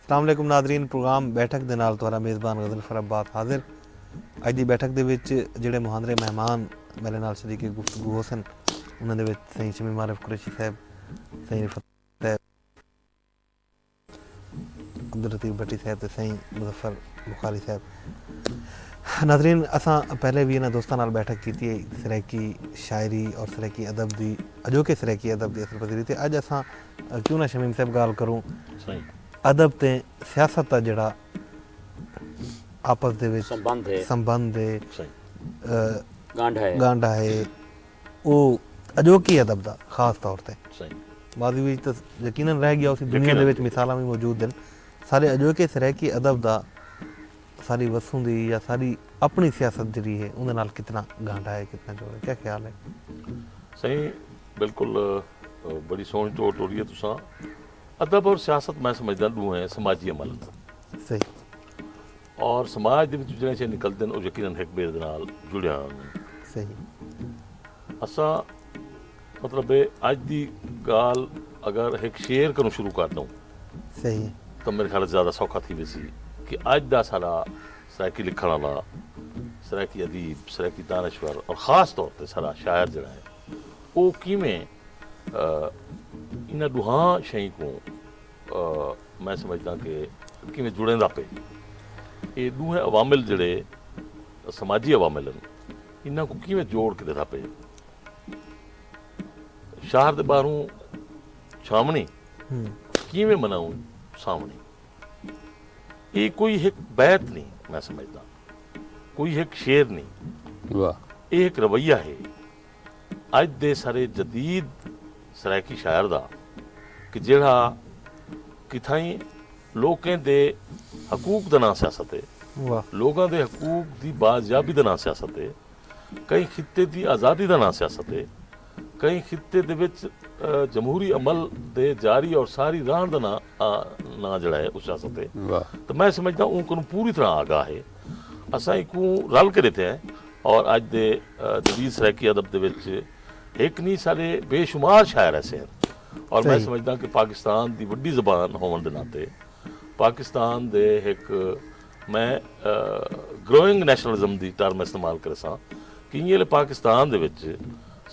السلام علیکم ناظرین پروگرام بیٹھک دے نال تہاڈا میزبان غزل فرب بات حاضر اج دی بیٹھک دے وچ جڑے مہاندرے مہمان میرے نال شریک گفتگو ہوسن انہاں دے وچ سائیں شمی معرف قریشی صاحب سائیں رفت صاحب عبداللطیف بھٹی صاحب تے سئیں مظفر بخاری صاحب ناظرین اساں پہلے بھی انہاں دوستاں نال بیٹھک کیتی ہے سرائیکی شاعری اور سرائیکی ادب دی اجوکے سرائیکی ادب دی اثر پذیری تے اج اساں کیوں نہ شمیم صاحب گال کروں ادب تے سیاست دا جڑا آپس دے وچ سمبند ہے گانڈھا ہے او اڄوکے ادب دا خاص طور تے ماضی وچ تاں یقینا رہ ڳیا ہوسی دنیا دے وچ مثالاں وی موجود ہن سارے اڄوکے سرائیکی ادب دا ساری وسوں دی یا ساری اپݨی سیاست جیڑھی ہے اوندے نال کتنا گھانڈا ہے کتنا جوڑ ہے کیا خیال ہے؟ سائیں بالکل بڑی سوہݨی ٹور ٹوری ہے تساں ادب اور سیاست میں سمجھداں ݙوہیں سماجی عمل ہن۔ صحیح۔ اور سماج دے وچوں جیڑھیاں شیاں نکلدن او یقینا ہک ٻئے دے نال جڑیاں ہوندن۔ صحیح۔ اساں مطلب اے اڄ دی ڳالھ اگر ہک شعر کنوں شروع کر ݙوں۔ صحیح۔ تاں میݙے خیال اچ زیادہ سوکھا تھی ویسی کہ اڄ دا ساݙا سرائیکی لکھݨ آلا، سرائیکی ادیب، سرائیکی دانشور اور خاص طور تے ساݙا شاعر جیڑھا اے او کیویں انہاں ݙوہاں شئیں کوں میں سمجھداں کہ کیویں جڑیندا پئے۔ اے ݙوہیں عوامل جیڑھے سماجی عوامل ہن انہاں کوں کیویں جوڑ کے ݙیسا پئے۔ شہر دے ٻاہروں چھاوݨی کیویں مناؤں ساوݨی۔ اے کوئی ہک بیت نی میں سمجھداں کوئی ہک شعر نی۔ اے ہک رویہ ہے۔ اڄ دے سرے جدید سرائیکی شاعر دا کہ جیڑھا کتھائیں لوکیں دے حقوق دا ناں سیاست ہے، لوگاں دے حقوق دی بازیابی دا ناں سیاست ہے، کہیں خطے دی آزادی دا ناں سیاست ہے، کہیں خطے دے وچ جمہوری عمل دے جاری اور ساری رہݨ دا ناں جیڑھا ہے او سیاست ہے تاں میں سمجھداں اوں کنوں پوری طرح آگاہ ہے۔ اساں ایکوں رل کے ڈیتے ہیں اور اج دے جدید سرائیکی ادب دے وچ ہک نہیں سارے بے شمار شاعر ایسے ہیں اور میں سمجھدا ہاں کہ پاکستان دی وڈی زبان ہوون دے ناطے پاکستان دے ہک میں گروئنگ نیشنلزم دی ٹرم استعمال کرساں کہ ایہلے پاکستان دے وچ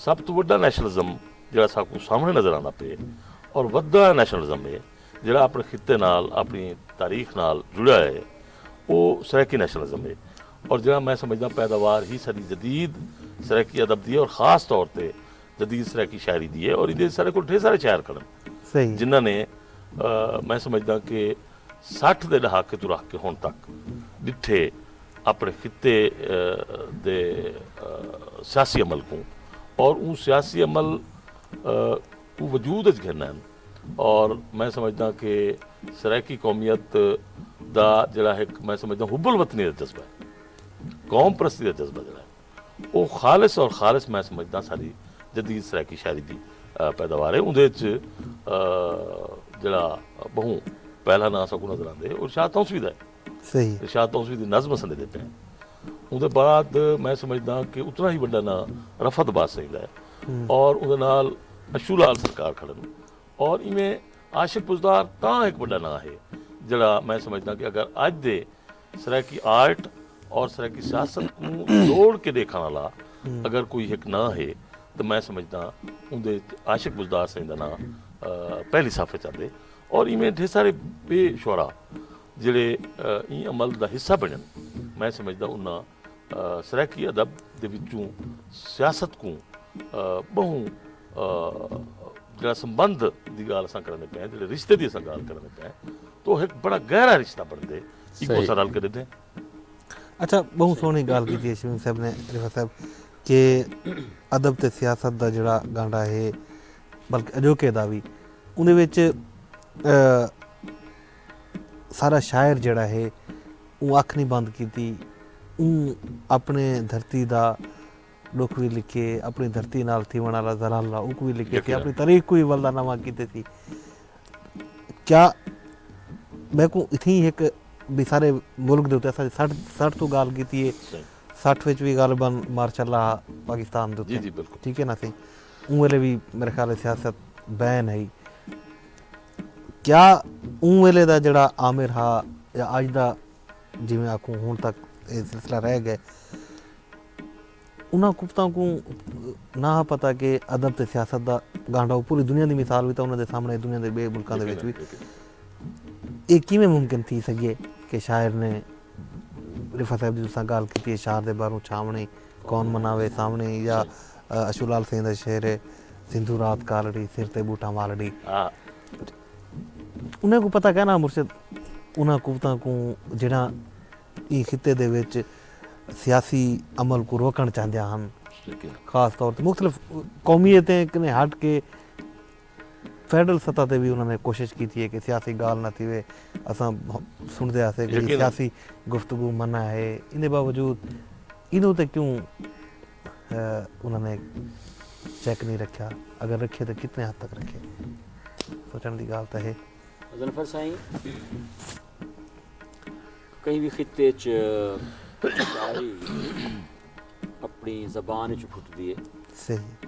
سب تو وڈا نیشنلزم جڑا ساکوں سامنے نظر آندا پے اور ودا نیشنلزم ہے جیڑھا اپݨے خطے نال اپݨی تاریخ نال جڑیا ہے او سرائیکی نیشنلزم ہے اور جیڑھا میں سمجھداں پیداوار ہی ساݙی جدید سرائیکی ادب دی ہے اور خاص طور تے جدید سرائیکی شاعری دی ہے اور ایندے وچ ساݙے کول ڈھیر سارے شاعر کھڑن جنہاں نے میں سمجھداں کہ سٹھ دے ݙہاکے توں رکھ کے ہݨ تک ݙٹھے اپݨے خطے دے سیاسی عمل کوں اور اوں سیاسی عمل کوں وجود اچ گھن ہن اور میں سمجھداں کہ سرائیکی قومیت دا جڑا ہک میں سمجھداں حب الوطنی دا جذبہ ہے قوم پرستی دا جذبہ جڑا ہے او خالص اور خالص میں سمجھداں ساڈی جدید سرائیکی شاعری دی پیداوار ہے اوندے اچ جڑا بہوں پہلا ناں اساں کوں نظر آندے او شاہ تونسوی دا ہے۔ ارشاد توسوی دی نظم اساں ݙیندے پئے ہیں۔ اوندے بعد میں سمجھداں کہ اتنا ہی وݙا ناں رفعت عباس سئیں دا ہے اور اوندے نال اشو لال سرکار کھڑن اور ایویں عاشق بزدار تاں ہک وݙا ناں ہے جیڑھا میں سمجھداں کہ اگر اڄ دے سرائیکی آرٹ اور سرائیکی سیاست کوں جوڑ کے ݙیکھݨ آلا اگر کوئی ہک ناں ہے تاں میں سمجھداں اوندے اچ عاشق بزدار سئیں دا ناں پہلی صف اچ آندے اور ایویں ڈھیر سارے ٻئے شعرا جیڑھے ایں عمل دا حصہ بنڑن میں سمجھدا انہاں سرائیکی ادب دے وچوں سیاست کوں بہوں جیڑھا سمبندھ دی گالھ اساں کرنے پئے ہیں جیڑھے رشتے دی اساں گالھ کرنے پئے ہیں تو ایک بڑا گہرا رشتہ بنڑدے ایکو اساں رل کے ڈیدھے اچھا بہوں سونی گالھ کیتی ہے شمیم صاحب نے رفعت صاحب کہ ادب تے سیاست دا جیڑھا گانڈا ہے بلکہ اجوکے دا وی اوندے وچ سارا شاعر جیڑا ہے اوں اکھ نی بند کیتی اوں اپنے دھرتی دا ڈکھ وی لکھے اپنی دھرتی نال تھیوݨ والا زلالہ اوکوں وی لکھے تھے اپنی تاریخ کو وی ولدا نواں کیتے تھی کیا میکوں اتھیں ہک بھی سارے ملک دے اتے اساں سٹھ سٹھ تو گال کیتی ہے سٹھ وچ وی غالبا مارشاء اللہ پاکستان دے اتے ٹھیک ہے نا سی اوں ویلے وی میرے خیال اچ سیاست بین ہئی۔ کیا اوں ویلے دا جیڑھا آمر ہا یا اج دا جیویں آکھوں ہن تک اے سلسلہ رہ گئے۔ انہاں کتاں کوں نہ ہا پتہ کہ ادب تے سیاست دا گانڈھا او پوری دنیا دی مثال وی تاں انہاں دے سامنے دنیا دے ٻئے ملکاں دے وچ وی۔ اے کیویں ممکن تھی سڳیے کہ شاعر نے رفعت صاحب دی تساں ڳالھ کیتی اے شعر دے باروں چھاوݨی۔ کون مناوے ساوݨی یا اشو لال سئیں دا شعر ہے سندھو رات کالڑی سر تے بوٹاں والڑی انہاں کوں پتہ کائناں مرشد انہاں قوتاں کوں جیڑھاں ایں خطے دے وچ سیاسی عمل کوں روکݨ چاہندیاں ہن خاص طور تے مختلف قومیتیں کنے ہٹ کے فیڈرل سطح تے وی انہاں نے کوشش کیتی ہے کہ سیاسی گالھ نہ تھیوے، اساں سنڑدے ہاسے کہ جی سیاسی گفتگو منع ہے، ایندے باوجود اینو تے کیوں انہاں نے چیک نی رکھیا، اگر رکھیے تے کتنے حد تک رکھیے، سوچنڑ دی گالھ تاں ہے۔ ظنفر سائیں کہیں وی خطے اچ شاعری اپنڑی زبان اچ پھٹدی ہے۔ صحیح۔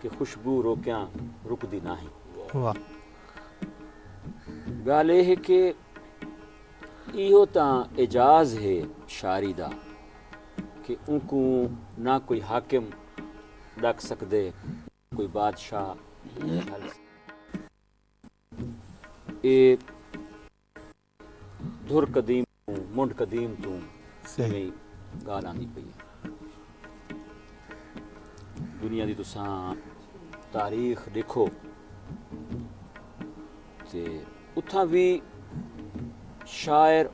کہ خوشبو روکیاں رکدی ناہیں۔ واہ۔ گالھ اے ہے کہ ایہو تاں اعجاز ہے شاعری دا کہ اونکوں نہ کوئی حاکم ڈک سکدے کوئی بادشاہ جھل سکدے۔ اے دھر قدیم کوں منڈھ قدیم توں ایویں گالھ آندی پئی ہے دنیا دی تساں تاریخ ڈیکھو تے اتھاں وی شاعر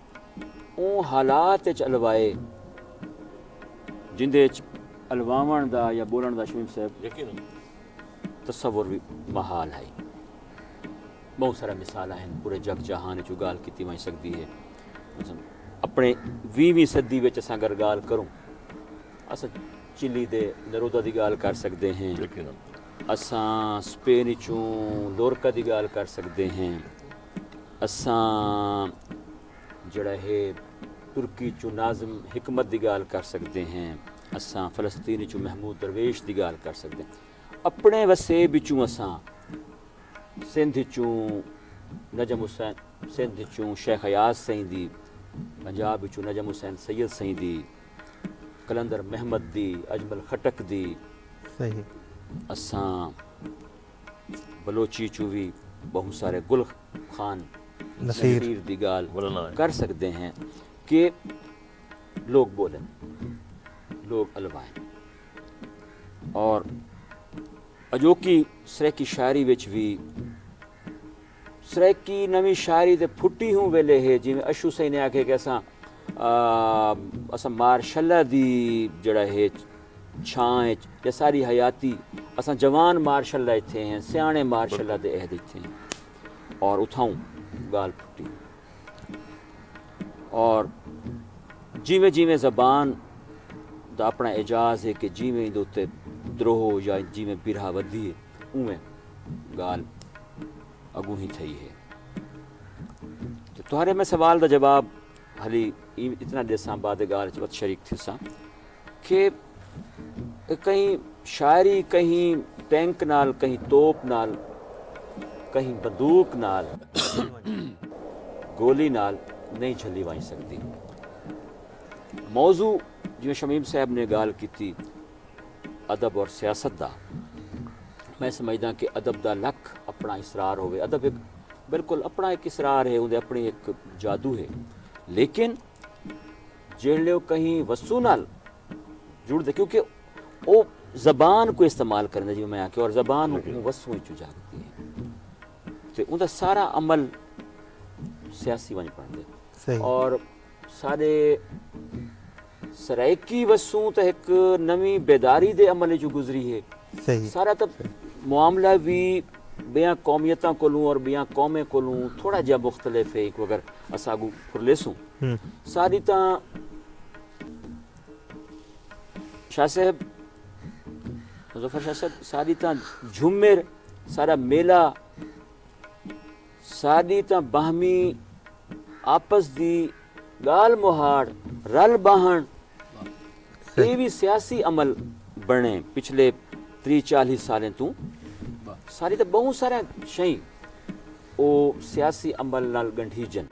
اوں حالات اچ الوائے جندے اچ الواون دا یا بولن دا شمیم صاحب تصور وی محال ہائی بہوں سارے مثالاں ہن، پورے جگ جہان اچ او گالھ کیتی ونج سگدی ہے۔ مثلا اپنڑے ویہویں صدی وچ اساں اگر گالھ کروں اساں چلی دے نرودا دی گالھ کر سگدے ہیں۔ یقینا۔ اساں سپین اچوں لورکا دی گالھ کر سگدے ہیں۔ اساں جیہڑا ہے ترکی اچوں ناظم حکمت دی گالھ کر سگدے ہیں۔ اساں فلسطین اچوں محمود درویش دی گالھ کر سگدے ہیں۔ اپنڑیں وسیب اچوں اساں سندھ اچوں نجم حسین سندھ اچوں شیخ ایاز سئیں دی پنجاب اچوں نجم حسین سید سئیں دی کلندر محمد دی اجمل خٹک دی صحیح اساں بلوچی چوں وی بہوں سارے گل خان نصیر دی گال کر سکدے ہیں کہ لوگ بولن لوگ الوائیں اور اجوکی سرائیکی شاعری وچ وی سرائیکی نویں شاعری دے پھٹی ہوں ویلے ہے جیویں اشو سائیں نے آکھے کہ اساں اساں مارشلا دی جڑا ہے چھاں اچ یا ساری حیاتی اساں جوان مارشلا ایتھے ہیں سیانے مارشلا دے عہد ایتھے ہیں اور اتھاؤں گال پھٹی اور جیویں جیویں زبان دا اپنا اعجاز ہے کہ جیویں ایندے اتے دروہ یا جیویں برہا ودھی ہے اونویں گال اگوں ہی تھئی ہے تہارے میں سوال دا جواب ہلی اتنا دیساں بعد گال چ وت شریک تھیساں کہ کہیں شاعری کہیں ٹینک نال کہیں توپ نال کہیں بندوق نال گولی نال نہیں جھلی وائیں سکدی موضوع جویں شمیم صاحب نے گال کیتی ادب اور سیاست دا میں سمجھدا کہ ادب دا لکھ اپنا اسرار ہوئے ادب ایک بالکل اپنا ایک اسرار ہے اندے اپنی ایک جادو ہے لیکن جیڑھلے او کہیں وسوں نال جڑ دے کیونکہ او زبان کو استعمال کریں دے جی میں آکے اور زبان جی، جی۔ وسوں اچھو جاگ دی ہے تو ان دا سارا عمل سیاسی ونج پڑھ دے اور سارے سرائیکی وسوں تا ایک نمی بیداری دے عمل جو گزری ہے سارا تا معاملہ بھی بیاں قومیتاں کولوں اور بیاں قومیں کولوں تھوڑا جیا مختلف ہے ایکو اگر اسا اگو پھرلیسوں ساری تاں شاہ صاحب مظفر شاہ صاحب ساری تاں جھمر سارا میلہ ساری تاں باہمی آپس دی گال مہاڑ رل باہن اے وی سیاسی عمل بنڑیں پچھلے تریہہ چالیہہ سالیں توں ساری تاں بہوں ساریاں شئیں او سیاسی عمل نال گنڈھیجن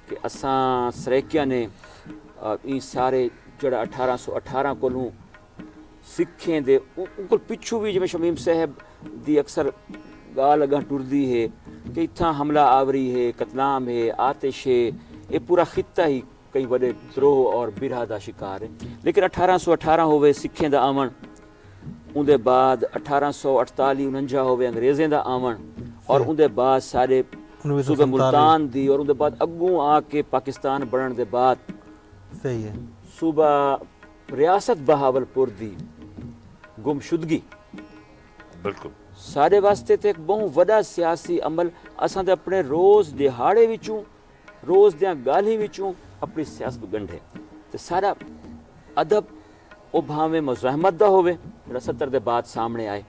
کہ اساں سرائیکیاں نے ایں سارے جیڑھا اٹھارہ سو اٹھارہ کولوں سکھیں دے اونکول پچھوں وی جیویں شمیم صاحب دی اکثر گالھ اگاں ٹردی ہے کہ اتھاں حملہ آوری ہے قتلام ہے آتش ہے اے پورا خطہ ہی کئی وڈے تروہ اور برہ دا شکار ہے لیکن اٹھارہ سو اٹھارہ ہووے سکھیں دا آون اوندے بعد اٹھارہ سو اٹھتالی انہنجا ہووے انگریزیں دا آون اور اوندے بعد سارے صوبہ ملتان دی اور اوندے بعد اگوں آ کے پاکستان بنن دے بعد صوبہ ریاست بہاول پور دی گم شدگی بالکل سارے واسطے تے ایک بہوں وڈا سیاسی عمل اساں دے اپنے روز دیہاڑے وچوں روز دیاں گالھیں وچوں اپنی سیاست گنڈھے تے سارا ادب او بھانویں مزاحمت دا ہووے جیڑھا ستر دے بعد سامنے آئے۔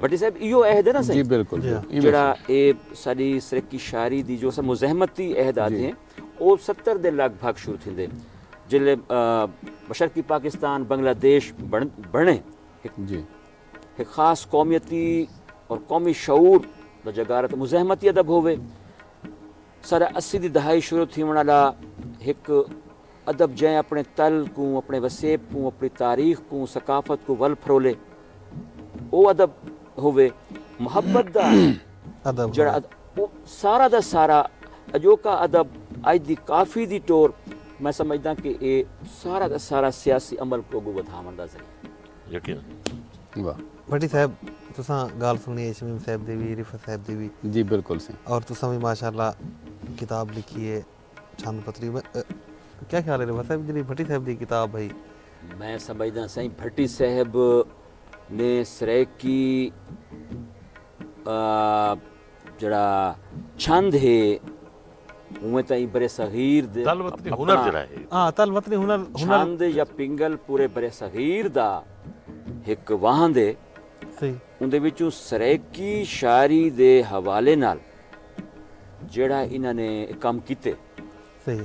بھٹی صاحب ایہو عہد ہے نا سائیں جیڑھا اے ساڈی سرائیکی شاعری دی جو اساں مزاحمتی عہد آدھیں او ستر دے لگ بھگ شروع تھیندے جلے مشرقی پاکستان بنگلہ دیش بنڑے۔ ہک خاص قومیتی اور قومی شعور دا جگارت مزاحمتی ادب ہووے سارا اسی دی دہائی شروع تھیوݨ والا ہک ادب جیں اپݨے تل کوں اپݨے وسیب کوں اپݨی تاریخ کوں ثقافت کوں ول پھرولے او ادب ہووے محبت دا ادب جیڑھا ہووے۔ ادب او سارا دا سارا اڄوکا ادب اڄ دی کافی دی ٹور میں سمجھداں کہ اے سارا دا سارا سیاسی عمل کوں اڳوں ودھاوݨ دا ذریعہ یقیناً۔ واہ۔ بھٹی صاحب تساں گالھ سنڑی ہے شمیم صاحب دی وی رفعت صاحب دی وی۔ جی بالکل سائیں۔ اور تساں وی ماشاء اللہ کتاب لکھی ہے چھند پتری میں کیا خیال ہے رفعت صاحب جیڑھی بھٹی صاحب دی کتاب ہئی۔ میں سمجھداں سائیں بھٹی صاحب نے سرائیکی جیڑھا چھند ہے اونویں تاں ایں برصغیر دے تل وطنی ہنر جیڑھا ہے۔ ہاں تل وطنی ہنر۔ چھند یا پنگل پورے برصغیر دا ہک واہند ہے۔ اوندے وچوں سرائیکی شاعری دے حوالے نال جیڑھا انہاں نے کم کیتے۔ سہی۔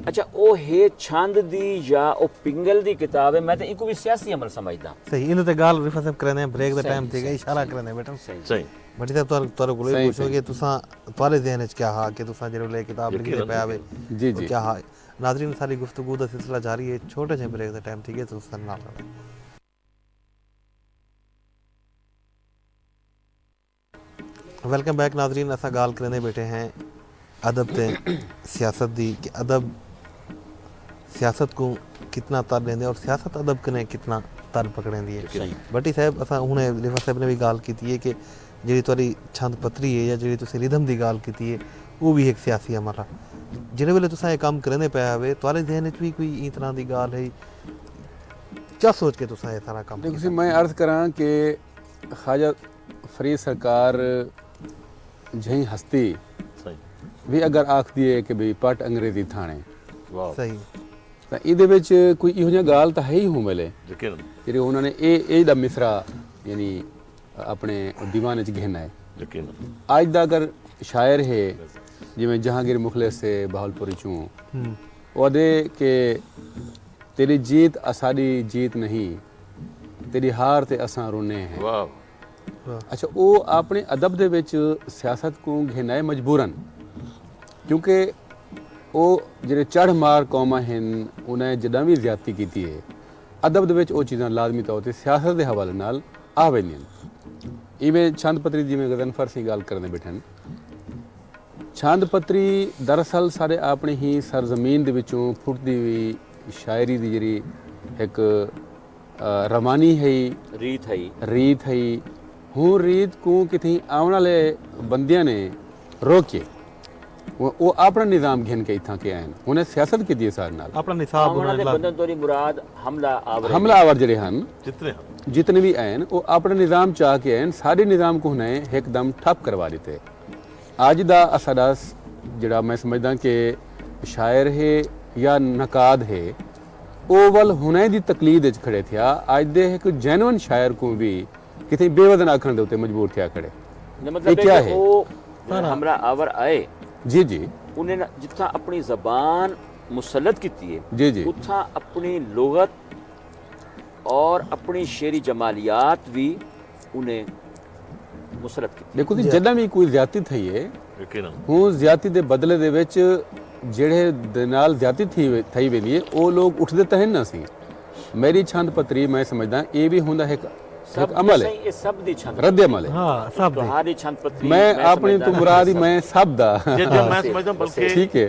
اچھا او ہے چھند دی یا او پنگل دی کتاب ہے میں تاں اینکوں وی سیاسی عمل سمجھداں۔ سہی اینوں تے گالھ رفعت صاحب کریندے ہیں بریک دا ٹائم تھی گئے اشارہ کریندے بیٹھن۔ سہی۔ بھٹی صاحب تہاڈے تہاڈے کولوں اے پوچھوں کہ تساں تہاڈے ذہن وچ کیا ہا کہ تساں جیڑھے ویلے کتاب لکھدے پئے ہاوے او کیا ہا۔ ناظرین ساڈی گفتگو دا سلسلہ جاری ہے چھوٹے جھیں بریک دا ٹائم تھی گئے تساں ساڈے نال رہندے۔ ویلکم بیک ناظرین اساں گال کریندے بیٹھے ہیں ادب تے سیاست دی کہ ادب سیاست کو کتنا تر دیندے اور سیاست ادب کنے کتنا تر پکڑیندی ہے بٹی صاحب اساں ہنے لیفا صاحب نے بھی گال کیتی ہے کہ جڑی تہاڈی چھند پتری ہے یا جڑی تسی ردھم دی گال کیتی ہے او بھی ایک سیاسی عمل ہے جڑے ویلے تساں اے کام کریندے پئے ہوے تہاڈے ذہن وچ بھی کوئی ایں طرح دی گال ہے کیا سوچ کے تساں اے سارا کام کیتا میں عرض کراں کہ خواجہ فری سرکار جھئیں ہستی وی اگر آکھدی ہے کہ بھئی پٹ انگریزی تھانے تاں ایندے وچ کوئی ایہو جیاں گالھ تاں ہئی ہوں ویلے جیڑھی انہاں نے اے اے دا مصرع یعنی اپنے دیوان وچ گھن آئے اج دا اگر شاعر ہے جیویں جہانگیر مخلص سے بہاول پوری چوں او آدھے کہ تیری جیت اساڈی جیت نہیں تیݙی ہار تے اساں رونے ہیں۔ اچھا او آپݨے ادب دے وچ سیاست کوں گھن آئے مجبورن کیونکہ او جیڑھے چڑھ مار قوماں ہن انہائے جݙاں وی زیادتی کیتی ہے ادب دے وچ او چیزاں لازمی طور تے سیاست دے حوالے نال آ ویندین ایویں چھند پتری جیویں غضنفر سئیں ڳالھ کردے ٻیٹھن چھند پتری دراصل ساݙے آپݨے ہی سرزمین دے وچوں پھٹدی ہوئی شاعری دی جیڑھی ہک روانی ہئی۔ ریت ہئی۔ ریت ہئی۔ ہوں ریت کوں کتھیں آون آلے بندیاں نے روکیے۔ او آپنڑا نظام گھن کے اتھاں کے آئن۔ انہیں سیاست کیتی ہے ساڈے نال۔ آپنڑا نصاب انہاں نے لاگو۔ آون آلے بندیاں توں نی مراد حملہ آور۔ حملہ آور جیڑھے ہن۔ جتنے ہن۔ جتنے وی آئن او آپنڑا نظام چاہ کے آئن۔ ساڈے نظام کوں انہیں ہک دم ٹھپ کروا ڈتے۔ اڄ دا اساݙا جیڑھا میں سمجھداں کہ شاعر ہے یا نقاد ہے او ول ہݨیں دی تقلید اچ کھڑے تھیا اڄ دے ہک جینون شاعر کوں وی کتھیں بے وزن آکھݨ دے اتے مجبور تھیا کھڑے اے کیا ہے؟ ہمراہ آور آئے انہیں نہ جتھاں اپݨی زبان مسلط کیتی ہے اتھاں اپݨی لغت اور اپݨی شعری جمالیات وی انہیں مسرت کیتی۔ ݙیکھو جی جݙاں وی کوئی زیادتی تھئی ہے ہوں زیادتی دے بدلے دے وچ جیڑھے دے نال زیادتی تھی تھئی ویندی ہے او لوک اٹھدے تاں ہن نا سی میݙی چھند پتری میں سمجھداں اے وی ہوندا ہک ہک عمل ہے رد عمل ہے میں آپݨی توں مراد ہی میں سب دا ٹھیک ہے۔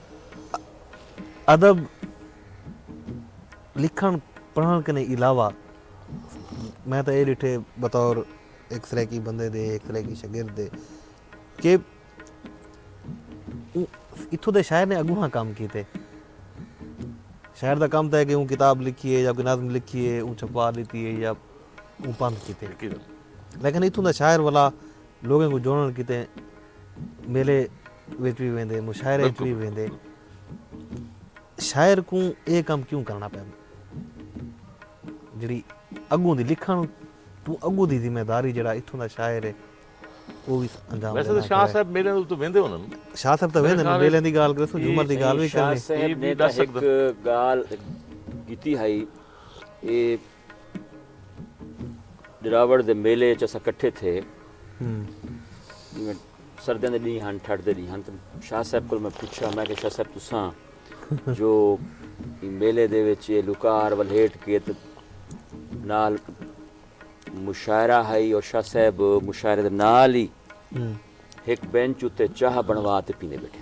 ادب لکھݨ پڑھݨ کنے علاوہ میں تاں اے ݙٹھے بطور ہک سرائیکی بندے دے ہک سرائیکی شاگرد دے کہ اتھوں دے شاعر نے اڳوہاں کم کیتے شاعر دا کم تاں ہے کہ اوں کتاب لکھی ہے یا کوئی نظم لکھی ہے اوں چھپوا ݙتی ہے یا اوں پندھ کیتے لیکن اتھوں دا شاعر ولا لوکیں کوں جوڑݨ کیتے میلے وچ وی ویندے مشاعرے وچ وی ویندے شاعر کوں اے کم کیوں کرنا پیندا جیڑی اگوں دی لکھن توں اگوں دی ذمہ داری جیڑا اتھوں دا شاعر ہے او وی انجام ویسے تے شاہ صاحب میلے تے ویندے ہونن شاہ صاحب تے ویندے میلے دی گال کرسوں جھومر دی گال وی کرنی شاہ صاحب نے تے ہک گال کیتی ہئی اے دراوڑ دے میلے اچ اساں کٹھے تھے سردیاں دے ڈینہہ ہن ٹھڈ دے ڈینہہ ہن تے شاہ صاحب کول میں پچھا میں کہ شاہ صاحب تساں جو میلے دے وچ اے لوکار ولھیٹ کے تے نال مشاعرہ ہئی اور شاہ صاحب مشاعرے دے نال ہی ہک بینچ اتے چاہ بنوا تے پیندے بیٹھے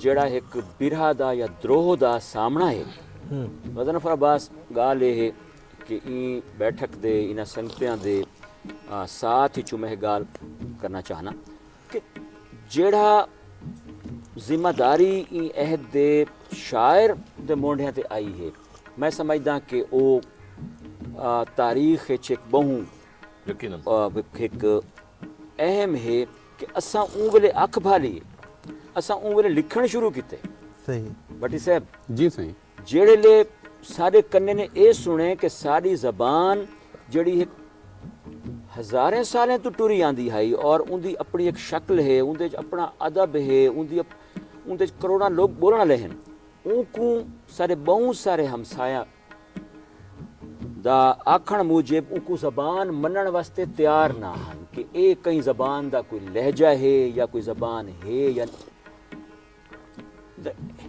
جیڑھا ہک برھا دا یا دروہ دا سامنڑاں ہے۔ مظنف عباس گالھ اے ہے کہ ایں بیٹھک دے انہاں سنگتیاں دے ساتھ اچوں میں ہک گالھ کرنا چاہناں کہ جیڑھا ذمہ داری ایں عہد دے شاعر دے مونڈھیاں تے آئی ہے میں سمجھداں کہ او تاریخ اچ ہک بہوں ہک اہم ہے کہ اساں اوں ویلے اکھ بھالی ہے۔ اساں اوں ویلے لکھݨ شروع کیتے۔ صحیح۔ بھٹی صاحب! جی سائیں۔ جیڑھیلے ساݙے کنے نے ایہ سݨے کہ ساݙی زبان جیڑھی ہک ہزاریں سالیں توں ٹری آندی ہئی اور اوندی اپݨی ہک شکل ہے، اوندے وچ اپݨا ادب ہے، اوندی اوندے وچ کروڑاں لوک ٻولݨ آلے ہن، اونکوں ساݙے ٻہوں سارے ہمسایہ دا آکھنڑ موجب اوکوں زبان مننڑ واسطے تیار نہ ہن کہ اے کہیں زبان دا کوئی لہجہ ہے یا کوئی زبان ہے یا نہ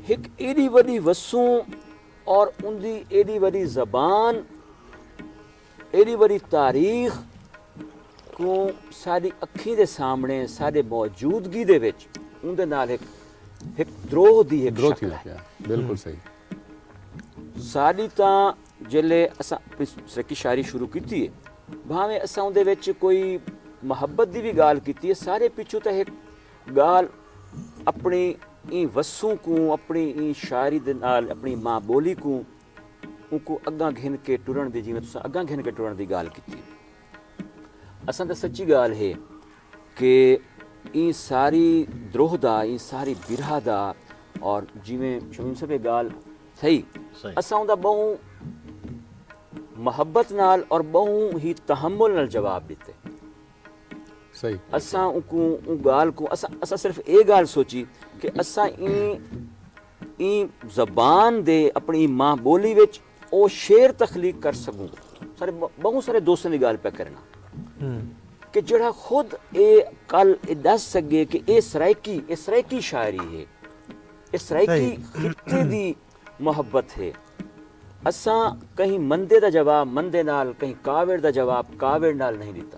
ہک ایڈی وڈی وسوں اور اندی ایڈی وڈی زبان ایڈی وڈی تاریخ کو ساری اکھی دے سامنے ساری موجودگی دے وچ اندے نال ایک ایک دروہ دی ایک شکل ہے بالکل صحیح ساݙی تاں جیلے اساں اپݨی سرکی شاعری شروع کیتی ہے بھاویں اساں اوندے وچ کوئی محبت دی وی ڳالھ کیتی ہے سارے پچھوں تاں ہک ڳالھ اپݨی ایں وسوں کوں اپݨی ایں شاعری دے نال اپݨی ماں ٻولی کوں اونکوں اڳاں گھن کے ٹرݨ دی جیویں تساں اڳاں گھن کے ٹرݨ دی ڳالھ کیتی اساں تاں سچی ڳالھ ہے کہ ایں ساری دروہ دا ایں ساری برہہ دا اور جیویں شمیم صاحب اے گالھ تھئی اساں اوندا بہوں محبت نال اور بہوں ہی تحمل نال جواب ڈتے اساں اونکوں اوں گالھ کوں اساں صرف اے گالھ سوچی کہ اساں ایں ایں زبان دے اپنی ماں بولی وچ او شعر تخلیق کر سڳوں سارے ٻہوں سارے دوستاں دی ڳالھ پیا کرݨا کہ جیڑھا خود اے کل اے ݙس سڳے کہ اے سرائیکی اے سرائیکی شاعری ہے اے سرائیکی خطے دی محبت ہے اساں کہیں مندے دا جواب مندے نال کہیں کاوڑ دا جواب کاوڑ نال نہیں ݙتا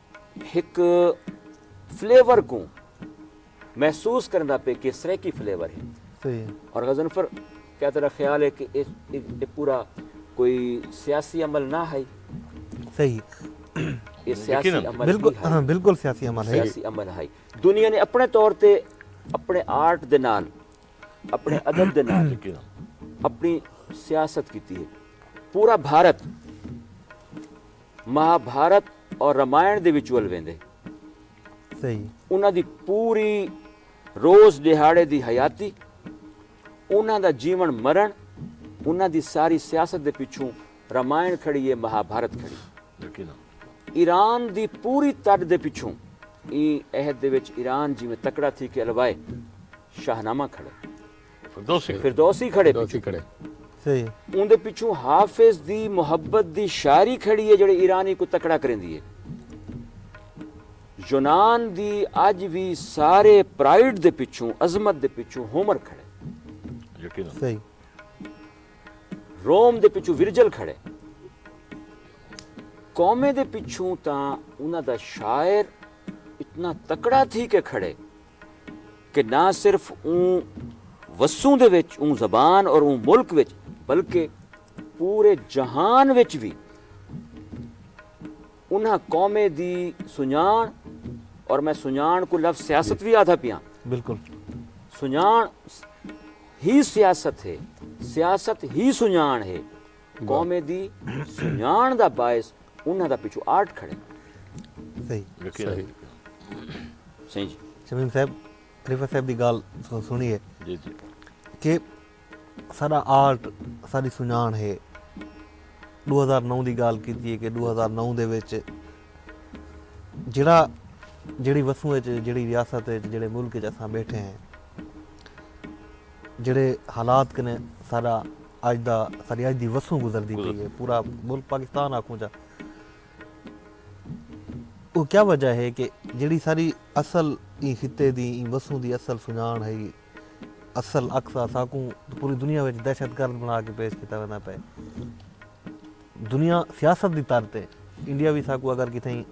ہک فلیور کوں محسوس کرندا پے کہ سریکی فلیور ہے صحیح اور غزنفر کیا تیرا خیال ہے کہ یہ پورا کوئی سیاسی عمل نہ ہے صحیح یہ سیاسی عمل بالکل ہاں، بالکل سیاسی عمل ہے سیاسی عمل ہے دنیا نے اپنے طور تے اپنے آرٹ دے نال اپنے ادب دے نال اپنی سیاست کیتی ہے پورا بھارت مہا بھارت اور رامائن دے وچ ول ویندے۔ انہاں دی پوری روز ݙیہاڑے دی حیاتی، انہاں دا جیوݨ مرݨ، انہاں دی ساری سیاست دے پچھوں رامائن کھڑی اے مہا بھارت کھڑی اے۔ ایران دی پوری تݙ دے پچھوں ایں عہد دے وچ ایران جیویں تکڑا تھی کے الوائے شاہنامہ کھڑے۔ فردوسی فردوسی کھڑے فردوسی کھڑے صحیح اون دے پچھو حافظ دی محبت دی شاعری کھڑی ہے جڑی ایرانی کو تکڑا کریندی ہے یونان دی اج وی سارے پرائیڈ دے پچھو عظمت دے پچھو ہومر کھڑے یقینا صحیح روم دے پچھو ورجل کھڑے قومے دے پچھو تاں انہاں دا شاعر اتنا تکڑا تھی کے کھڑے کہ نہ صرف اوں وسوں دے وچ اوں زبان اور اوں ملک وچ بلکہ پورے جہان وچ وی انہاں قومیں دی سنڄاݨ اور میں سنڄاݨ کوں لفظ سیاست وی آدھا پیاں بالکل سنڄاݨ ہی سیاست ہے سیاست ہی سنڄاݨ ہے۔ قوم دی سنڄاݨ دا باعث انہاں دا پچھوں آرٹ کھڑے۔ صحیح۔ صحیح جی۔ شمیم صاحب خلیفہ صاحب دی گال سنی ہے۔ جی جی۔ کہ سارا آرٹ ساری سنڄاݨ ہے۔ ݙو ہزار نو دی گال کیتی ہے کہ ݙو ہزار نو دے وچ جیڑھا جیڑھی وسوں وچ جیڑھی ریاست وچ جیڑھے ملک وچ اساں بیٹھے ہیں۔ جیڑھے حالات کنے ساڈا اج دا ساڈی اج دی وسوں گزردی پئی ہے پورا ملک پاکستان آکھوں چا او کیا وجہ ہے کہ جیڑھی ساڈی اصل ایں خطے دی ایں وسوں دی اصل سنجان ہئی اصل عکس ہا ساکوں پوری دنیا وچ دہشت گرد بنا کے پیش کیتا ویندا پئے دنیا سیاست دی تر تے انڈیا وی ساکوں اگر کتھائیں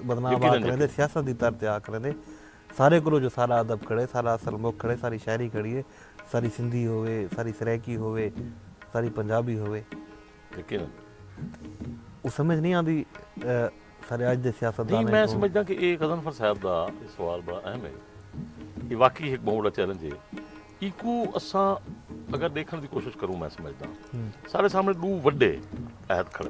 بدنام آکھ کریندے سیاست دی تر تے آکھ کریندے سارے کولو جو سارا ادب کھڑے سارا اصل مکھ کھڑے ساری شاعری کھڑی ہے ساری سندھی ہووے ساری سرائیکی ہووے ساری پنجابی ہووے یقینا او سمجھ نہیں آندی سارے اج دے سیاست دان میں سمجھدا کہ اے غزنفر صاحب دا سوال بڑا اہم ہے یہ واقعی ایک بہت بڑا چیلنج ہے ایکو اساں اگر دیکھن دی کوشش کروں میں سمجھدا سارے سامنے دو وڈے عہد کھڑے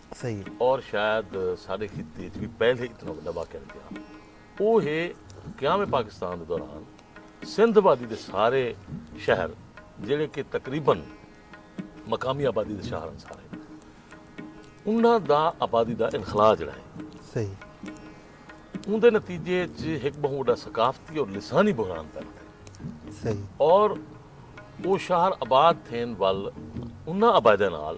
صحیح ہے۔ اور شاید ساڈے خطے اچ وی پہلے اتنا وڈا واقعہ نی تھیا۔ او ہے قیام پاکستان دے دوران سندھ آبادی دے سارے شہر جیڑھے کہ تقریبا مقامی آبادی دے شہر ہن سارے انہاں دا آبادی دا انخلا جیڑھا ہے۔ صحیح۔ اوندے نتیجے اچ ہک بہوں وڈا ثقافتی اور لسانی بحران پیدا تھیا۔ صحیح۔ اور او شہر آباد تھین ول انہاں آبادیاں نال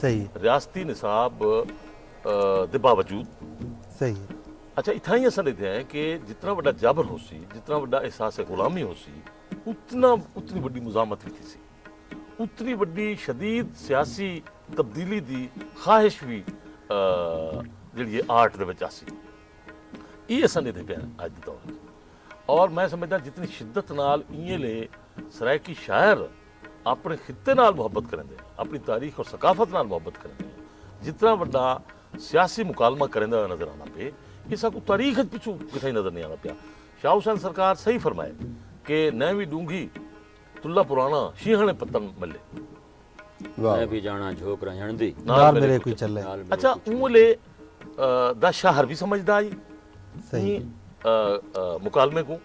صحیح ہے۔ ریاستی نصاب دے باوجود۔ صحیح ہے۔ اچھا اتھاں ہی اساں ڈیدھے ہیں کہ جتنا وڈا جبر ہو سی جتنا وڈا احساس غلامی ہو سی اتنا اتنی وڈی مزاحمت بھی تھی سی اتنی وڈی شدید سیاسی تبدیلی دی خواہش بھی جڑی ہے آرٹ دے وچ آسی یہ اساں ڈیدھے پہ ہیں آج دے دور اور میں سمجھدا جتنی شدت نال ایے لے سرائیکی شاعر اپݨے خطے نال محبت کریندے ہن، اپݨی تاریخ اور ثقافت نال محبت کریندے ہن، جتنا وݙا سیاسی مکالمہ کریندا ہویا نظر آندا پئے، اساکوں تاریخ اچ پچھوں کتھائیں نظر نئیں آندا پیا۔ شاہ حسین سرکار صحیح فرمائے کہ نئیں وی ݙونگھی تلہ پراݨا، شینہݨے پتݨ ملے۔ میں بھی جاݨاں جھوک رہنجݨ دی۔ نال میݙے کوئی چلے۔ اچھا اوں ویلے دا شاہ عربی سمجھدا ہئی ایں مکالمے کوں۔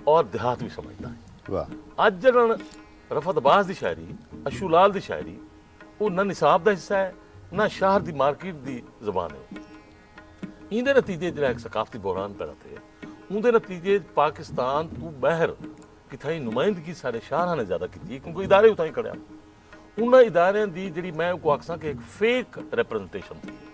اور دیہات وی سمجھدا ہئیں۔ واہ۔ اج جڈن رفعت عباس دی شاعری، اشو لال دی شاعری او نہ نصاب دا حصہ ہے نہ شہر دی مارکیٹ دی زبان ہے او۔ ایندے نتیجے اچ جیرھا ہک ثقافتی بحران پیدا تھئے اوندے نتیجے اچ پاکستان توں بہر کتھائیں نمائندگی ساڈے شاعراں نے زیادہ کیتی ہے کیونکہ ادارے اتھائیں کھڑے ہن۔ انہاں اداریاں دی جیرھی میں اوکوں آکھساں کہ ہک فیک ریپریزنٹیشن تھئی ہے۔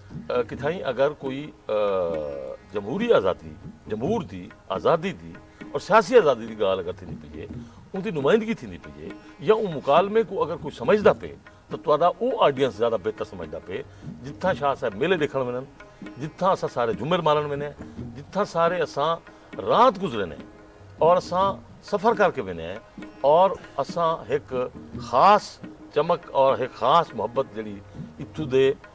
کتھائیں اگر کوئی جمہوری آزادی، جمہور دی آزادی دی اور سیاسی آزادی دی گالھ اگر تھیندی پئی اے، اوندی نمائندگی تھیندی پئی اے یا اوں مکالمے کوں اگر کوئی سمجھدا پئے تاں تہاڈا او آڈینس زیادہ بہتر سمجھدا پئے جتھاں شاہ صاحب میلے ڈیکھن ونن، جتھاں اساں سارے جمر مارن وینے ہیں، جتھاں سارے اساں رات گزرینے ہیں اور اساں سفر کر کے وینے ہیں اور اساں ہک خاص چمک اور ہک خاص محبت جیڑھی اتھوں دے۔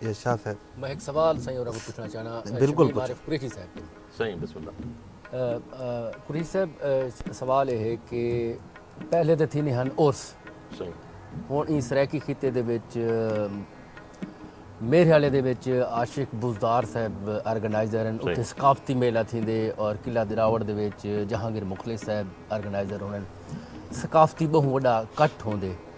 یا شاہ صاحب۔ میں ہک سوال سائیں ہوراں کوں پچھݨا چاہنا۔ بالکل پچھو۔ شبیر عارف قریشی صاحب کوں۔ سائیں بسم اللہ۔ قریشی صاحب سوال اے ہے کہ پہلے تاں تھیندے ہن عرس۔ سائیں۔ ہݨ ایں سرائیکی خطے دے وچ میرے خیال دے وچ عاشق بزدار صاحب آرگنائزر ہن۔ اتھے ثقافتی میلہ تھیندے اور قلعہ دراوڑ دے وچ جہانگیر مخلص صاحب آرگنائزر ہوندن۔ ثقافتی ٻہوں وݙا کٹھ ہوندے۔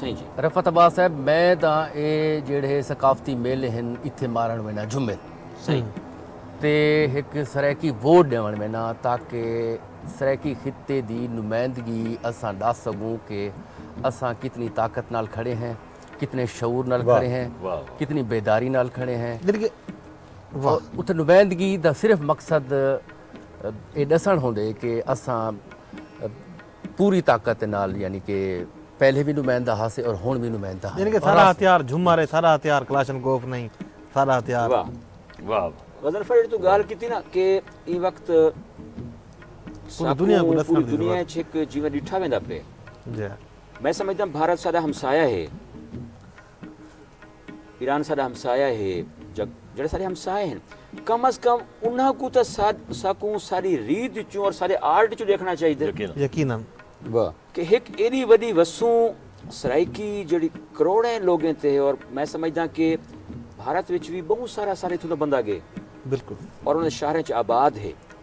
سائیں جی۔ رفعت عباس صاحب میں تاں اے جیڑھے ثقافتی میلے ہن اتھے مارن وینا جھمل۔ سائیں۔ تے ہک سرائیکی ووٹ ڈیون وینا تاکہ سرائیکی خطے دی نمائندگی اساں ڈس سگوں کہ اساں کتنی طاقت نال کھڑے ہیں کتنے شعور نال کھڑے ہیں کتنی بیداری نال کھڑے ہیں۔ اتھے نمائندگی دا صرف مقصد اے ڈسن ہوندے کہ اساں۔ پوری طاقت دے نال یعنی کہ پہلے وی نمائندہ ہاسے اور ہن وی نمائندہ ہن۔ یعنی کہ ساڈا ہتھیار جھمر ہے، ساڈا ہتھیار کلاشن کوف نہیں، ساڈا ہتھیار۔ واہ واہ واہ۔ غضنفر جیڑھی توں گالھ کیتی نا کہ ایں وقت ساکوں پوری دنیا اچ ہک جیویں ڈٹھا ویندا پئے۔ میں سمجھداں بھارت ساڈا ہمسایہ ہے۔ ایران ساڈا ہمسایہ ہے جگ جڑے سارے ہمسائے ہیں کم از کم انہاں کو تاں ساکوں ساری ریت چوں اور سارے آرٹ چوں دیکھنا چاہیے دے یقینا کہ ہک ایڈی وڈی وسوں سرائیکی جڑی کروڑیں لوگیں تے ہے اور میں سمجھدا کہ بھارت وچ وی بہوں سارا سارے تھوں دا بندہ گے بالکل اور انہاں دے شہراں چ آباد ہے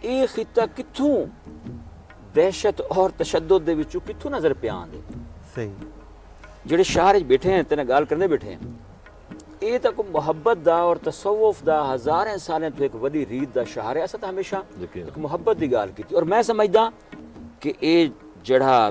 اے خطہ کتھوں دہشت اور تشدد دے وچوں کتھوں نظر پیا آندے صحیح جڑے شہر وچ بیٹھے ہیں تینا گال کرنے بیٹھے ہیں اے تاں کوئی محبت دا اور تصوف دا ہزاریں سالیں تو ایک وڈی ریت دا شہر ہے اسا تاں ہمیشہ ایک محبت دی گال کیتی اور میں سمجھدا کہ اے جڑا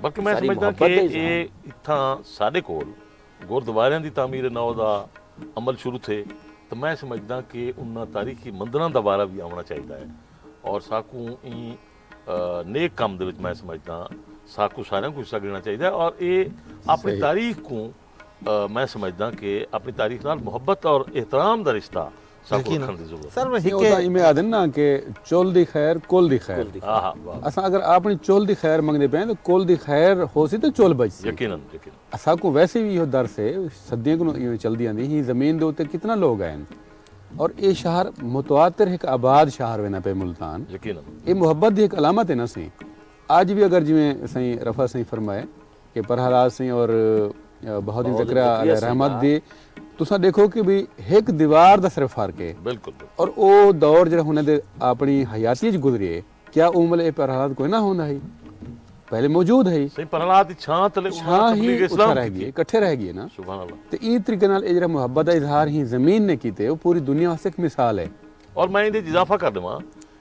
بلکہ میں سمجھداں کہ اے اتھاں ساڈے کول گوردواریاں دی تعمیر نو دا عمل شروع تھے تاں میں سمجھداں کہ انہاں تاریخی مندراں دا وارہ وی آوݨا چاہیدا ہے اور ساکوں ایں نیک کم دے وچ میں سمجھداں ساکوں ساریاں کوں حصہ گھنڑا چاہیدا ہے اور اے اپنی تاریخ کوں میں سمجھداں کہ اپنی تاریخ نال محبت اور احترام دا رشتہ ساکوں یقینا رکھݨ دی ضرورت سر ہے۔ ویسے ہکے اودا ایویں آہدن نا کہ چل دی خیر کل دی خیر۔ کل دی خیر آہا واہ واہ اساں اگر آپݨی چل دی خیر منگدے پئے آں تاں کل دی خیر ہوسی تاں چل بچسی۔ یقینا یقینا۔ اساکوں ویسے وی ایہو درس ہے صدیاں کنوں ایویں چلدی آندی ہیں زمین دے اتے کتنا لوگ آئن اور ایہ شہر متواتر ہک آباد شہر وینا پئے ملتان یقینا۔ ایہ محبت دی ہک علامت ہے نا سئیں اج وی اگر جیویں سئیں رفعت سئیں فرمائے کہ پرہالاد سیں اور بہاؤالدین زکریا علیہ رحمت دی تساں ڈیکھو کہ بھی ہک دیوار دا صرف فرق ہے اور او دور جڑا انہاں دے اپنی حیاتی وچ گزریے کیا اوں ویلے اے پرہالاد کوئی نہ ہوندا ہئی پہلے موجود ہئی سائیں پرہالاد دی چھاں تلے انہاں نے تبلیغ اسلام رہ گئی اکٹھے رہ گئے نا سبحان اللہ تے ایں طریقے نال اے جڑا محبت دا اظہار ہی زمین نے کیتے او پوری دنیا واسطے ایک مثال ہے اور میں ایں دے اضافہ کر دیواں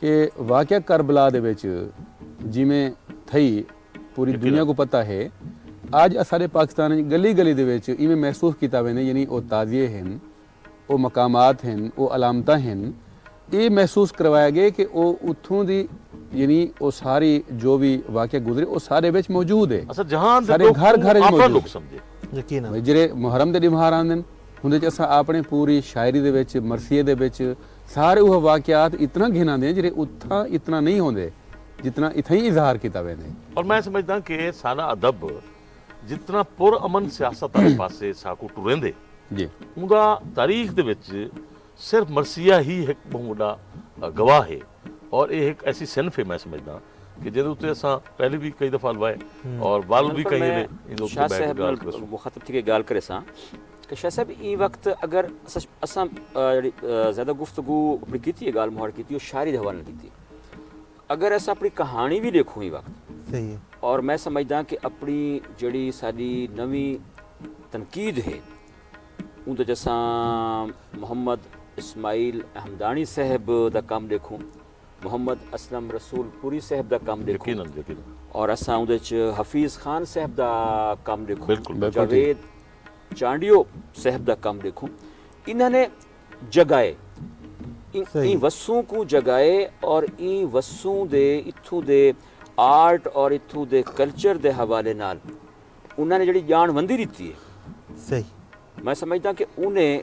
کہ واقعہ کربلا دے وچ جیویں تھئی پوری دنیا کوں پتہ ہے اج اساڈے پاکستان وچ گلی گلی دے وچ ایویں محسوس کیتا ویندے یعنی او تعزیے ہن او مقامات ہن او علامتاں ہن اے محسوس کروایا گئے کہ او اتھوں دی یعنی او ساری جو وی واقعہ گزرے او ساڈے وچ موجود ہے اساں جہان دے ڈکھ کوں آپنڑا ڈکھ سمجھے۔ یقینا۔ جیرھے محرم دے ڈیمہار آندن ہوندے وچ اساں آپنڑے پوری شاعری دے وچ مرثیے دے وچ۔ سارے اوہ واقعات اتنا گھن آندے ہن جیرھے اتھاں اتنا نئیں ہوندے جتنا اتھائیں اظہار کیتا ویندے۔ پر میں سمجھداں کہ ساڈا ادب جتنا پر امن سیاست آلے پاسے ساکوں ٹریندے اوندا تاریخ دے وچ صرف مرثیہ ہی ہک بہوں وڈا گواہ ہے اور ایہ ہک ایسی صنف ہے میں سمجھداں کہ جیندے اتے اساں پہلے وی کئی دفعہ الوائے اور ول وی کہیں ویلے ایندے اتے بیٹھ کے گالھ کریسوں۔ کہ شاہ صاحب ایں وقت اگر اساں جڑی زیادہ گفتگو اپنی کیتی ہے گال مہاڑ کیتی او شاعری دے حوالے نال کیتی ہے اگر اساں اپنی کہانی بھی لکھوں ایں وقت صحیح ہے اور میں سمجھداں کہ اپنی جڑی ساڈی نویں تنقید ہے اون دے جساں محمد اسماعیل احمدانی صاحب دا کم لکھوں محمد اسلم رسول پوری صاحب دا کم لکھوں اور اساں اون دے حفیظ خان صاحب دا کم لکھوں جاوید چانڈیو صاحب دا کم ڈیکھو انہاں نے جگائے ایں وسوں کوں جگائے اور ایں وسوں دے اتھوں دے آرٹ اور اتھوں دے کلچر دے حوالے نال انہاں نے جڑی جان وندی ڈتی ہے میں سمجھداں کہ انہیں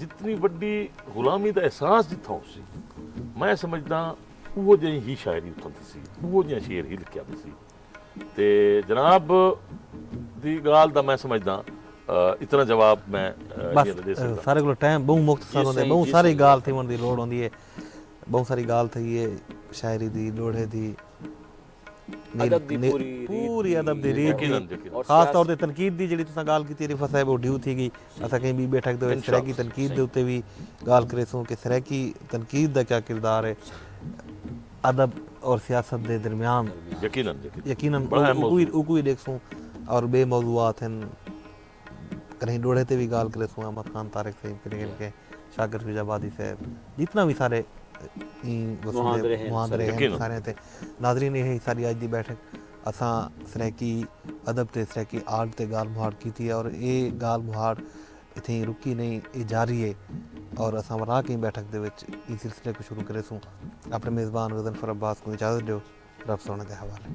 جتنی وڈی غلامی دا احساس جتھاں ہوسی میں سمجھداں اوہو جہیں ہی شاعری اتھاں تھیسی اوہو جہیں شعر ہی لکھیا تھیسی تے جناب دی گال دا میں سمجھداں اتنا جواب میں بس سارے کلو ٹائم بہوں مختصر ہوندے بہوں ساری گال تھی ہوندی لوڑ ہوندی ہے بہوں ساری گال تھی ہے شاعری دی لوڑے دی پوری ادب دی ریت دی خاص طور تے تنقید دی جیڑھی تساں گال کیتی رفعت صاحب او ڈیو تھی گئی اساں کہیں بی بیٹھک دے سرائیکی تنقید دے اتے وی گال کریسوں کہ سرائیکی تنقید دا کیا کردار ہے ادب اور سیاست دے درمیان یقینا یقینا او کوئی ڈیکھسوں اور بے موضوعات ہیں کہیں ڈوہڑے تے وی گالھ کریسوں احمد خان طارق سئیں پھر گن کے شاکر فیض آبادی صاحب جتنا وی سارے ایں مہاندرے ہیں مہاندرے ہیں سارے تے ناظرین یہ ساری اج دی بیٹھک اساں سرائیکی ادب تے سرائیکی آرٹ تے گالھ مہاڑ کیتی ہے اور اے گالھ مہاڑ اتھیں رکی نہیں اے جاری ہے اور اساں ورا کہیں بیٹھک دے وچ ایں سلسلے کو شروع کریسوں اپنے میزبان غزنفر عباس کو اجازت دیو رب سونے دے حوالے